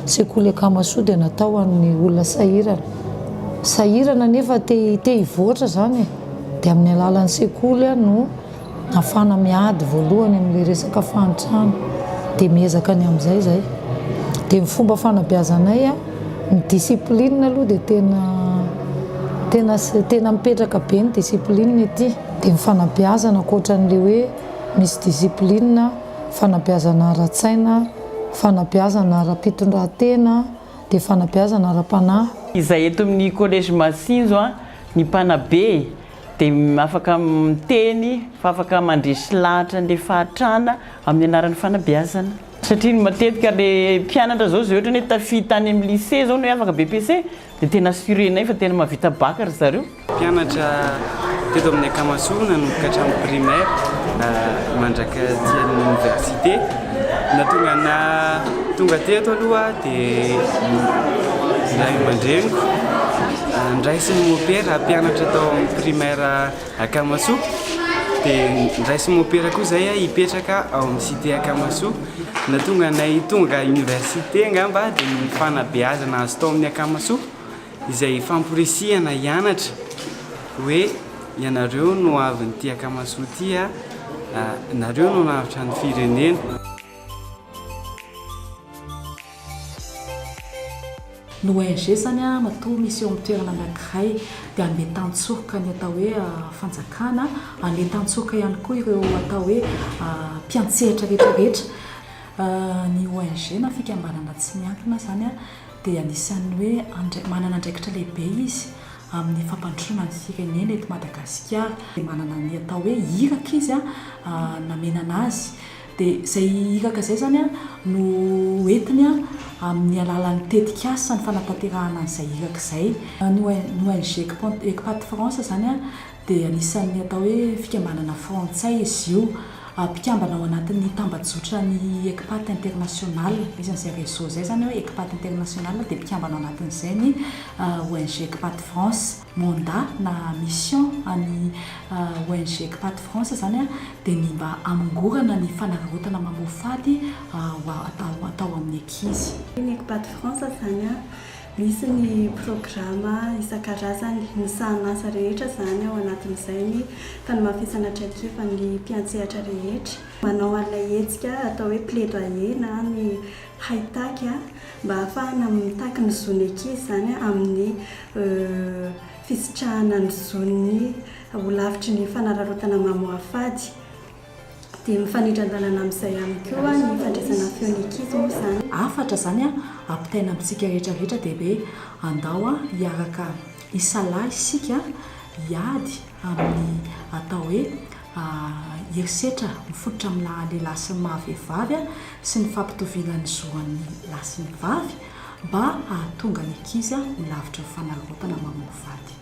Sekoly Akamasoa dia natao ho an'ny olona sahirana. Sahirana nefa te te hivoatra izany e. Dia amin'ny alalan'ny sekoly no. Nafana miady voalohany amle resaka fahantrana de miezaka ny amzay zay de ny fomba fanabeazanay a ny discipline aloha de tena tena tena mipetraka be ny discipline ety de ny fanabeazana akoatranle hoe misy discipline fanabeazana ara-tsaina fanabeazana ara-pitondrantena de fanabeazana ara-panahy. Izay eto amin'ny collège Masinjo a ny mpanabe e! dia afaka miteny fa afaka mandresy lahatra an'ilay fahantrana amin'ny anaran'ny fanabeazana. Satria ny matetika ilay mpianatra izao izay ohatrany hoe tafita any amin'ny lycée izao ny hoe afaka BEPC dia tena assurenay fa tena mahavita bac ry zareo. Mpianatra teto amin'ny Akamasoa nanomboka hatramin'ny primaire mandrak'aty amin'ny université. Nahatonga ahy tonga teto aloha dia ny ray aman-dreniko niraisin'ny mopera hampianatra tao amin'ny primaire Akamasoa. Dia niraisin'ny mopera koa izay ahy hipetraka ao amin'ny cité Akamasoa. Ny nahatonga anay tonga université angamba dia ny fanabeazana azo tao amin'ny Akamasoa. Izay famporisihana hianatra hoe ianareo no hoavin'ity Akamasoa ity a! nareo no hanavotra ny firenena. Ny ONG zany matoa misy eo amin'ny toerana anankiray dia handeha tan-tsoroka ny atao hoe fanjakana, handeha tan-tsoroka ihany koa ireo atao hoe mpiantsehatra rehetra rehetra. Ny ONG na fikambanana tsy miankina zany. dia anisan'ny hoe andrai manana andraikitra lehibe izy amin'ny fampandrosoana ny firenena eto Madagasikara. Dia manana ny atao hoe iraka izy namenana azy. Dia izay iraka izay izany no hoentiny amin'ny alalan'ny tetikasa ny fanatanterahana an'izay iraka izay. Ny ONG Ecpat France izany dia anisan'ny atao hoe fikambanana frantsay izy io, mpikambana ao anatin'ny tambajotran'ny Ecpat International. Misy an'izay réseau izay izany hoe Ecpat International dia mpikambana ao anatin'izay ny ONG Ecpat France. Mandat na mission an'ny ONG Ecpat France izany dia ny mba hamongorana ny fanararaotana mamoa faty atao amin'ny ankizy. Ny Ecpat France izany. Misy ny programa isan-karazany, ny sahanasa rehetra izany ao anatin'izay ny fanamafisana traikefa ny mpiantsehatra rehetra. Manao an'ilay hetsika atao hoe plaidoyer na ny haitaky mba hahafahana mitaky ny zon'ny ankizy izany amin'ny fisitrahana ny zon'ny ho lavitry ny fanararaotana mamoafady. Dia mifanindran-dalana amin'izay ihany koa ny fandraisana feo ny ankizy moa izany. Hafatra izany ampitaina amintsika rehetra rehetra dia hoe andao hiaraka hisalahy isika hiady amin'ny atao hoe herisetra mifototra amin'ny maha lehilahy sy ny maha vehivavy sy ny fampitoviana ny zo an'ny lahy sy ny vavy mba hahatonga ny ankizy ho lavitry ny fanararaotana mamono vady.